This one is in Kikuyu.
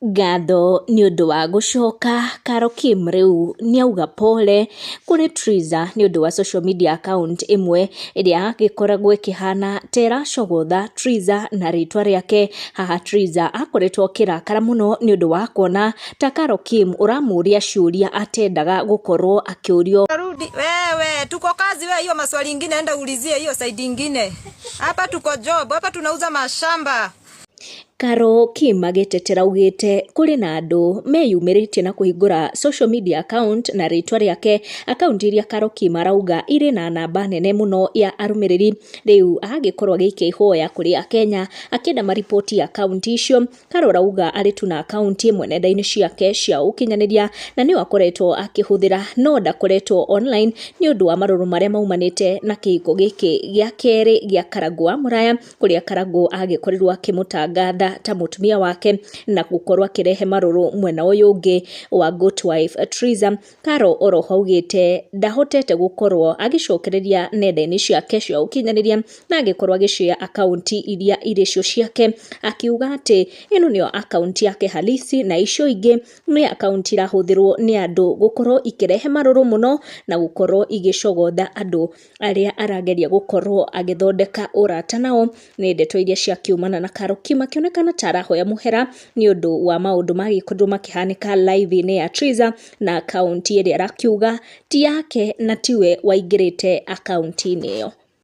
Ngatho nĩ ũndũ wa gũcoka karo Kim rĩu nĩ auga pole kũrĩ Triza nĩ ũndũ wa social media account ĩmwe ĩrĩa yagĩkoragwo ĩkĩhana ta ĩracogotha Triza na rĩtwa rĩake. Haha Triza akoretwo akĩrakara mũno nĩ ũndũ wa kuona ta karo Kim ũramũria ciũria atendaga gũkorwo akĩũrio. Rudi, wewe tuko kazi wewe, hiyo maswali ingine enda ulizie hiyo side ingine. Hapa tuko job, hapa tunauza mashamba. Karo kiima gĩtetera augĩte kũrĩ na andũ meyumĩrĩtie na kũhingũra social media account na rĩtwa rĩake, account iria karo kiima arauga irĩ na namba nene mũno ya arũmĩrĩri, rĩu agagĩkorwo agĩikia ihoya kũrĩ akenya akĩenda ma report account icio, karo arauga arĩ tu na account ĩmwe nenda-inĩ ciake cia ũkinyanĩria, na nĩyo akoretwo akĩhũthĩra no ndakoretwo online nĩ ũndũ wa marũrũ marĩa maumanĩte na kĩhiko gĩkĩ gĩa kerĩ gĩa karangũ wa mũraya, kũrĩa Karangũ agĩkorirwo akĩmũtangatha ta mũtumia wake na gũkorwo akĩrehe marũrũ mwena ũyũ ũngĩ wa Goat Wife Triza. Karo oroho augĩte ndahotete gũkorwo agĩcokereria nenda-inĩ ciake cia ũkinyanĩria na agĩkorwo agĩcare akaunti iria irĩ cio ciake akiuga atĩ ĩno nĩyo akaunti yake halisi na icio ingĩ nĩ akaunti irahũthĩrwo nĩ andũ gũkorwo ikĩrehe marũrũ mũno na gũkorwo igĩcogotha andũ. arĩa arageria gũkorwo agĩthondeka ũrata nao. Nĩ ndeto iria ciakiumana na Karuki makĩonekana ta arahoya mũhera nĩ ũndũ wa maũndũ magĩkorirwo makĩhanĩka live-inĩ ya Triza na akaunti ĩrĩa arakiuga ti yake na tiwe waingĩrĩte akaunti-inĩ ĩyo.